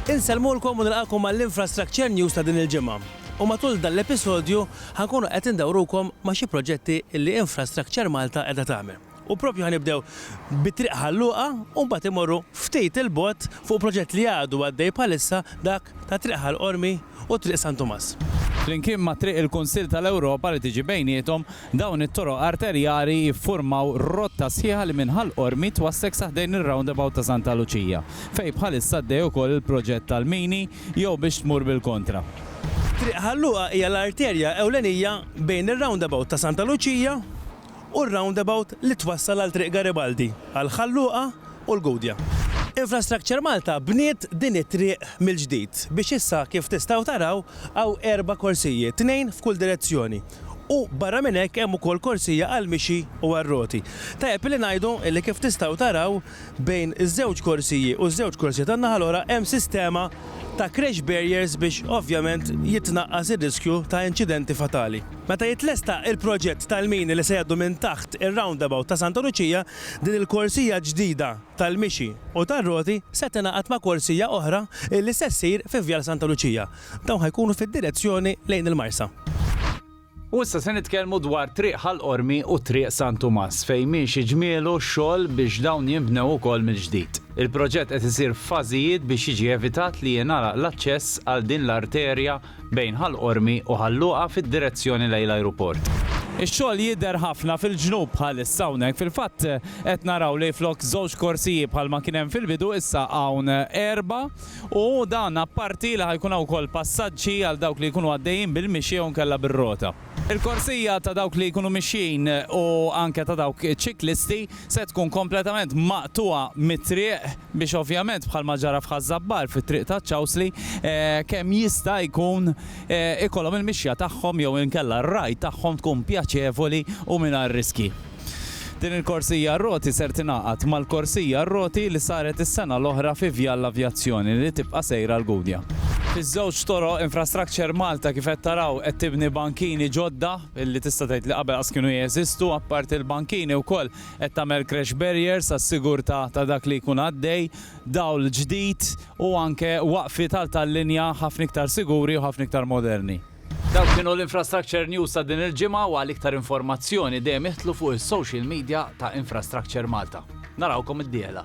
Insellmulkom u nilqagħkom għall-Infrastructure News ta' din il-ġimgħa. U matul dan l-episodju ħa nkunu qed indawrukom ma' xi proġetti li Infrastructure Malta qiegħda tagħmel. U propju ħa nibdew bi Triq Ħal Luqa u mbagħad immorru ftit 'il bogħod fuq proġett li għadu għaddej bħalissa dak ta' Triq Ħal Qormi, u Triq San Tumas. Flimkien ma' Triq il-Kunsill tal-Ewropa li tiġi bejniethom, dawn it-toroq arterjari jiffurmaw rotta sħiħa li minn Ħal Qormi twassek sa ħdejn ir-roundabout ta' Santa Luċija, fejn bħalissa għaddej ukoll il-proġett tal-mini jew biex tmur bil-kontra. Triq Ħal Luqa hija l-arterja ewlenija bejn ir-roundabout ta' Santa Luċija, u r-roundabout li twassal għal Triq Garibaldi, għal Ħal Luqa u l-Gudja. Infrastructure Malta bniet din it-triq mill-ġdid biex issa kif tistgħu taraw hawn erba' korsijiet, tnejn f'kull direzzjoni u barra minn hekk hemm ukoll korsija għall-mixi u għar-roti. Tajjeb li ngħidu li kif tistgħu taraw bejn iż-żewġ korsiji u ż-żewġ korsija tan-naħa l-oħra hemm sistema ta' crash barriers biex ovvjament jitnaqqas ir-riskju ta' inċidenti fatali. Meta jitlesta il-proġett tal-mini li se jgħaddu minn taħt ir-roundabout ta' Santa Luċija, din il-korsija ġdida tal-mixi u tar-roti se tingħaqad ma' korsija oħra li se ssir fi Vjal Santa Luċija. Dawn ħa jkunu fid-direzzjoni lejn il-Marsa. U issa se nitkellmu dwar Triq Ħal Qormi u Triq San Tumas fejn miexi ġmielu x-xogħol biex dawn jinbnew ukoll mill-ġdid. Il-proġett qed isir f'fażijiet biex jiġi evitat li jingħalaq l-aċċess għal din l-arterja bejn Ħal Qormi u Ħal Luqa fid-direzzjoni lejn l-ajruport. Ix-xogħol jidher ħafna fil-ġnub bħalissa hawnhekk. Fil-fatt qed naraw li flok żewġ korsiji bħalma kien hemm fil-bidu issa hawn erba' u dan apparti li ħa jkun hawn ukoll passaġġi għal dawk li jkunu għaddejjin bil-mixi jew inkella bir-rota. Il-korsija ta' dawk li jkunu mixjin u anke ta' dawk iċ-ċiklisti se tkun kompletament maqtugħa mit-triq biex ovvjament bħalma ġara f'Ħaż-Żabbar fit-triq taċ-Ċawsli kemm jista' jkun ikollhom il-mixja tagħhom jew inkella r-ride tagħhom tkun pjaċevoli u mingħajr riskji. Din il-korsija għar-roti ser tingħaqad mal-korsija għar-roti li saret is-sena l-oħra fi Vjal l-Avjazzjoni li tibqa' sejra l-Gudja. Fiż-żewġ toroq, Infrastructure Malta kif qed taraw qed tibni bankini ġodda li tista' tgħid li qabel qas kienu jeżistu. Apparti l-bankini wkoll qed tagħmel crash barriers għas-sigurtà ta' dak li jkun għaddej, dawl ġdid u anke waqfiet għal tal-linja ħafna iktar siguri u ħafna iktar moderni. Dawk kienu l-Infrastructure News ta' din il-ġimgħa u għal iktar informazzjoni dejjem idħlu fuq is-social media ta' Infrastructure Malta. Narawkom id-dieħla.